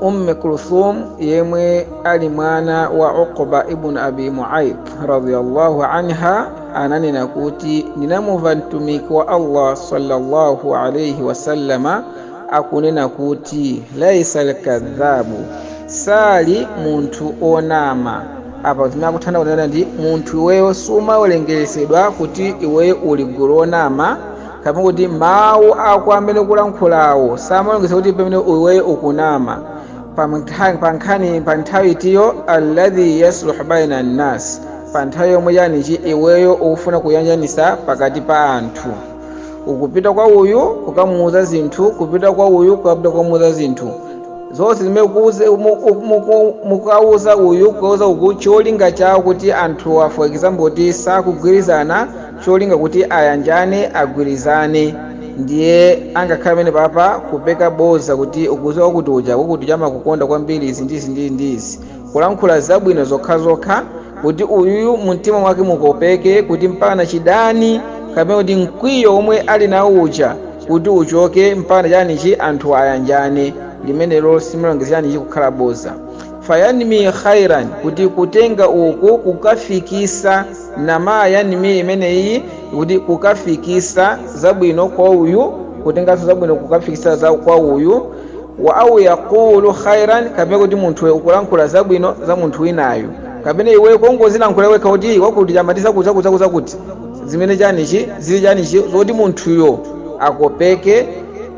umme kulthum yemwe ali mwana wa uqba ibn abi muait radiyallahu anha ananena kuti ndinamumva mtumiki wa allah sallallahu alaihi wasallama akunena kuti laisa alkadhabu sali munthu onama apa zimene akuthandauza kunena ndi munthu iweyo sumawerengeresedwa kuti iweyo uli gulu onama kapena kuti mawu ako amene ukulankhulawo samawerengeresedwa kuti pamene iweyo ukunama pa mntha- pa nkhani pa nthawi itiyo alladhi yasluhu baina nnas pa nthawi yomwe chanichi iweyo ukufuna kuyanjanisa pakati pa anthu ukupita kwa uyu kukamuuza zinthu kupita kwa uyu kukapita kukamuuza zinthu zonse zimene kuuze- muku- muku- mukauza uyu kukauza uku cholinga chawo kuti anthu wa for example kuti sakugwirizana cholinga kuti ayanjane agwirizane ndiye angakhale pamene papa kupeka boza kuti ukuziwa wakuti uja wakuti uja amakukonda kwambiri izi ndizi ndizi ndizi kulankhula zabwino zokhazokha kuti uyuyu mumtima mwake mukopeke kuti mpaka chidani kapena kuti mkwiyo womwe ali nawo uja kuti uchoke mpaka chanichi anthu ayanjane limenelo simalongezeranichi kukhala boza fayanmi khairan kuti kutenga uku kukafikisa nama yanmi imeneyi kuti kukafikisa zabwino kwa uyu kutenganso zabwino kukafikisa za kwa uyu wa au yaqulu khairan kapena kuti munthuyo ukulankhula zabwino za munthu winayo kapena iwe kongozilankhula wekha kuti wakuti amati zakuti zakuti zakuti zakuti zimene chanichi zili chanichi zoti munthuyo akopeke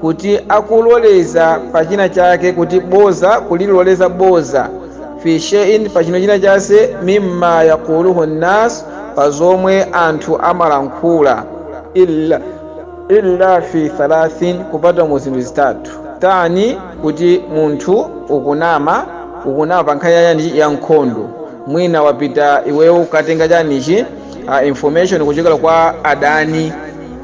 kuti akuloleza pa china chake kuti boza kuliloleza boza fi shay'in pa chino china chase mimma yaquluhu nnas pa zomwe anthu amalankhula illa illa fi thalathin kupatula mu zinthu zitatu tani kuti munthu ukunama ukunama pa nkhani yani ya nkhondo mwina wapita iweyo ukatenga chanichi uh, information kuchokera kwa adani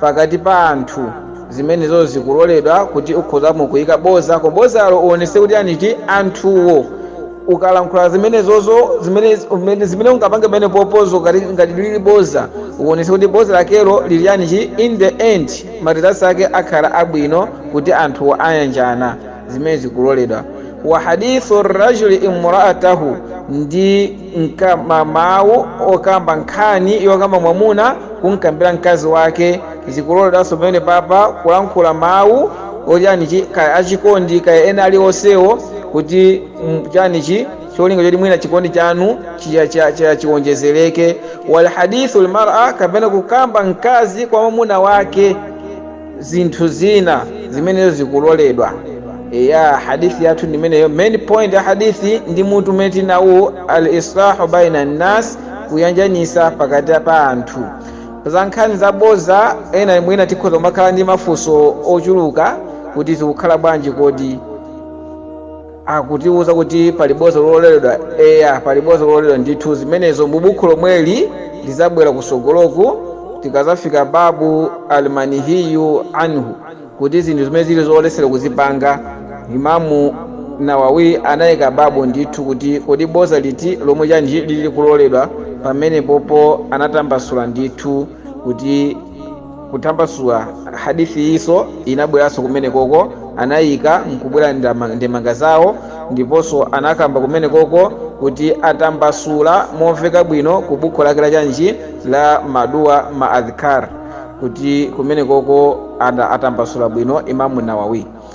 pakati pa anthu zimenezo zikuloledwa kuti ukhoza mo kuyika boza koma bozalo uonese kuti chanichi anthuwo ukalankhula zimenezozo zimene umene- zimene ungapange pamene popozo ngati ngati lili boza uonese kuti boza lakelo lili chanichi in the end ma results ake akhala abwino kuti anthuwo ayanjana zimene zikuloledwa wa hadithu rajuli imraatahu ndi mkama mawu okamba nkhani yokamba mwamuna kumkambira mkazi wake zikuloledwanso pamene papa kulankhula mawu ochanichi kaya achikondi kaya ena alionsewo kuti mm, chanichi cholinga choti mwina chikondi chanu chiya- chiya- chiya- chiwonjezereke wa hadithu lmara kapena kukamba mkazi kwa mwamuna wake zinthu zina zimenezo zikuloledwa eya hadithi yathu ndimeneyo main point ya hadithi ndi mutu umene tinawu al islahu baina nnas kuyanjanisa pakati pa anthu za nkhani zaboza ena mwina tikhoza kumakhala ndi mafunso ochuluka kuti zikukhala bwanji kodi akutiwuza kuti pali boza lololedwa eya pali boza lololedwa ndithu zimenezo mu bukhu lomweli lizabwera kusogoloku tikazafika babu almanihiyu anhu kuti zinthu zimene zili zolesera kuzipanga imamu nawawi anayika babu ndithu kuti kodi boza liti lomwe chanji lili kuloledwa pamenepopo anatambasula ndithu kuti kutambasula Hadith iso inabweranso kumenekoko anayika nkubwera ndemanga zawo ndiponso anakamba kumenekoko kuti atambasula momveka bwino ku bukhu lake la chanji la maduwa ma adhkar kuti kumenekoko anatambasula bwino Imam Nawawi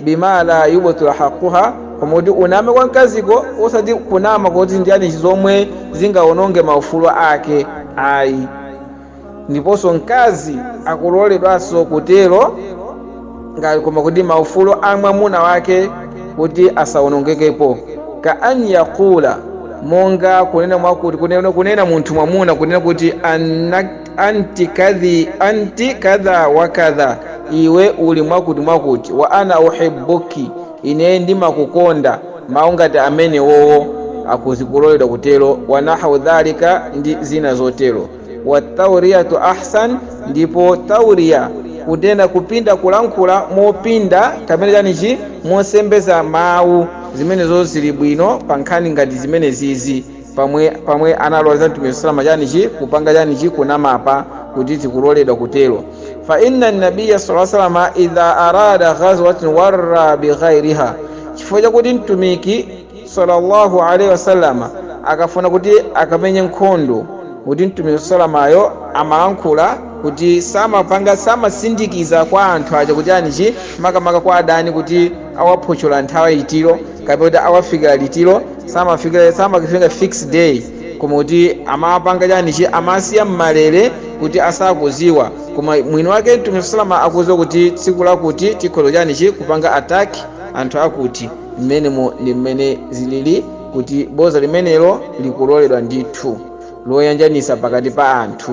bima la yubtilu haqquha, koma kuti uname kwa mkaziko osati kunama koti ndi yani zomwe zingawononge maufulu ake ayi. Ndiponso mkazi akuloledwanso kutero koma kuti maufulu a mwamuna wake kuti asawonongekepo. Ka an yaqula, monga kunena, kunena munthu mwamuna kunena kuti an anti kadha wa kadha iwe uli mwakuti mwakuti wa ana uhibbuki ine ndimakukonda mawu ngati amenewowo akuzikuloledwa kutero wa nahwu dhalika ndi zina zotero wa tauriyatu ahsan ndipo tauriya kunena kupinda kulankhula mopinda kapena chanichi mosembeza mawu zimenezo zili bwino pa nkhani ngati zimenezizi pamwe analoleza mtumiki salama chanichi kupanga chanichi kunamapa kuti zikuloledwa kutero fa inna nabiya sala salama idha arada ghazwatan warra bighairiha chifukwa chakuti mtumiki sallallahu alaihi wasallama akafuna kuti akamenye nkhondo kuti mtumiki salamayo amalankhula kuti samapanga samasindikiza kwa anthu aja kuti anichi makamaka kwa adani kuti awaphochola nthawi itiro kapena kuti awafikira litiro samafikira samakifinga fix day koma kuti amapanga chanichi amasiya mmalere kuti asakuziwa koma mwini wake mtume salama akuziwa kuti tsiku lakuti tikhoza chanichi kupanga attack anthu akuti mmenemo ndi mmene zilili kuti boza limenelo likuloledwa ndithu loyanjanisa pakati pa anthu